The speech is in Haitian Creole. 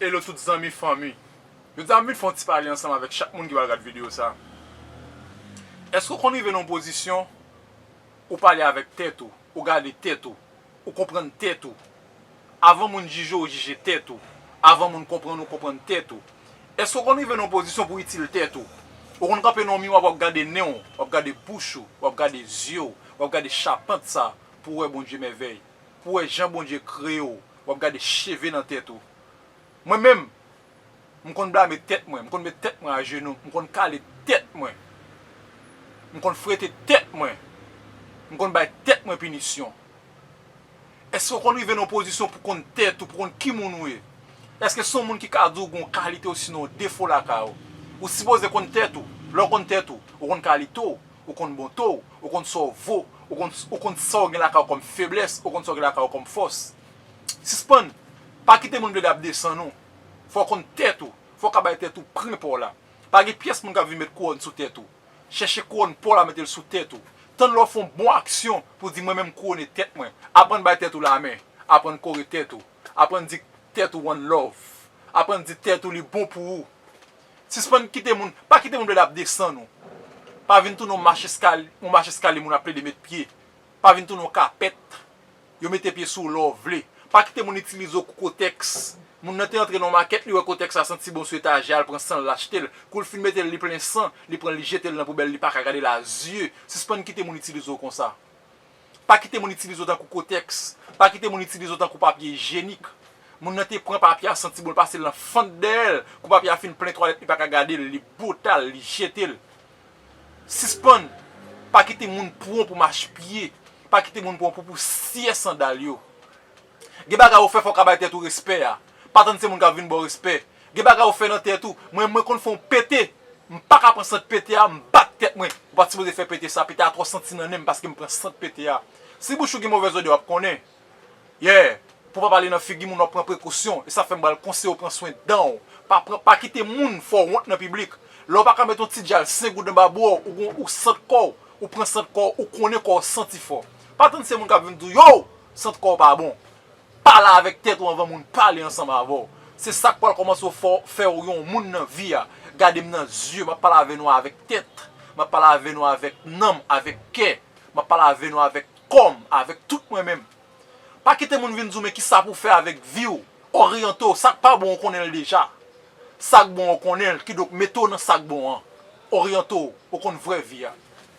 Hello tout zanmi fanmi Jodi a m vin fè yon ti pale ansanm avèk chak moun ki pral gad videyo sa Èske ou konn rive nan yon pozisyon ou pale avèk tèt ou ou gade tèt ou ou konprann tèt ou avan moun jije ou jije tèt ou avan moun konprann ou konprann tèt ou Èske ou konn rive nan yon pozisyon pou itil tèt ou ou konn kanpe nan yon miwa wap gade nen w wap gade bouch ou wap gade zye w wap gade chapant sa pou wè Bondye mèvèy. pou wè jan Bondye kreye w wap gade cheve nan tèt ou mwen menm m konn blame tèt mwen m konn met tèt mwen ajenou m konn kale tèt mwen m konn frete tèt mwen m konn bay tèt mwen pinisyon èske w konn rive nan yon pozisyon pou konn tèt ou pou konn ki moun ou ye èske se yon moun ki ka di w gen yon kalite osinon yon defo lakay ou ou sipoze konn tèt ou lè w konn tèt ou ou konn kalite w Ou konn bonte w, ou konn sa w vo, ou konn sa w gen lakay ou kòm feblès, ou konn sa w gen lakay ou kòm fòs. Sispann, pa kite moun plede ap desann ou. Fò w konn tèt ou, fò w ka bay tèt ou prim pa w la. Pa gen pyès moun k ap vin met kouwòn sou tèt ou. Chèche kouwòn pa w la mete l sou tèt ou. Tann lè w fè yon bon aksyon pou w di mwen menm m kouwone tèt mwen. Aprann bay tèt ou lamen. Aprann kore tèt ou. Aprann di tèt ou one love. Aprann di tèt ou li bon pou ou. Sispann kite moun, pa kite moun plede ap desann ou. Pa vin tounen yon mach eskalye, yon mach eskalye moun ap plede met pye. Pa vin tounen yon kapèt, yo mete pye sou ou lè w vle. Pa kite moun itilize w kou kotèks. Moun nan te antre nan yon makèt, li wè kotèks la santi bon sou etajè a, l pran san l, l achte l. Kou l fin mete l, li plen san, li pran l li jete l nan poubèl, li pa ka gade l a zye. Sispann kite moun itilize w konsa. Pa kite moun itilize w tankou kotèks, pa kite moun itilize w tankou papye ijyenik. Moun nan te pran papye a santi bon l pase l nan fant dèyè l, kou papye a fin plen twalèt li pa ka gade l, li bota l, li jete l. Sispann pa kite moun pran w pou machpye, pa kite moun pran w pou pousyè sandal yo. Gen bagay ou fè fòw ka bay tèt ou respè a pa tann se moun kap vin baw respè gen bagay ou fè nan tèt ou mwen mwen konn fè yon pete m paka pran sant pete a m bat tèt mwen ou pat sipoze fè pete sa pete a twò santi nan nenm paskem pran sant pete a si bouch ou gen movèz odè wap konnen yeah pou pa pale nan figi moun wap pran prekosyon esa fèm bal konseyew pran swen danw pa pran pa kite moun fèw wont nan piblik lèw paka met yon ti djal sen goud anba bouw ou gon ou sant kòw ou pran sant kòw ou konnen kòw santi fò pa tann se moun kap vin diw yow Sant kò w pa bon. Pale avèk tèt ou anvan moun pale ansanm avè w. Se sa k pral kòmanse fè w yon moun nan vi a. Gade m nan zye, m ap pale avè nou avèk tèt. M ap pale avè nou avèk nanm, avèk kè. M ap pale avè nou avèk kò m, avèk tout mwen menm. Pa kite moun vin di w men kisa pou w fè avèk vi w. Oryante w. Sa k pa bon ou konnen l deja. Sa k bon ou konnen l, kidonk mete w nan sa k bon an. Oryante w. Ou konn vrè vi a.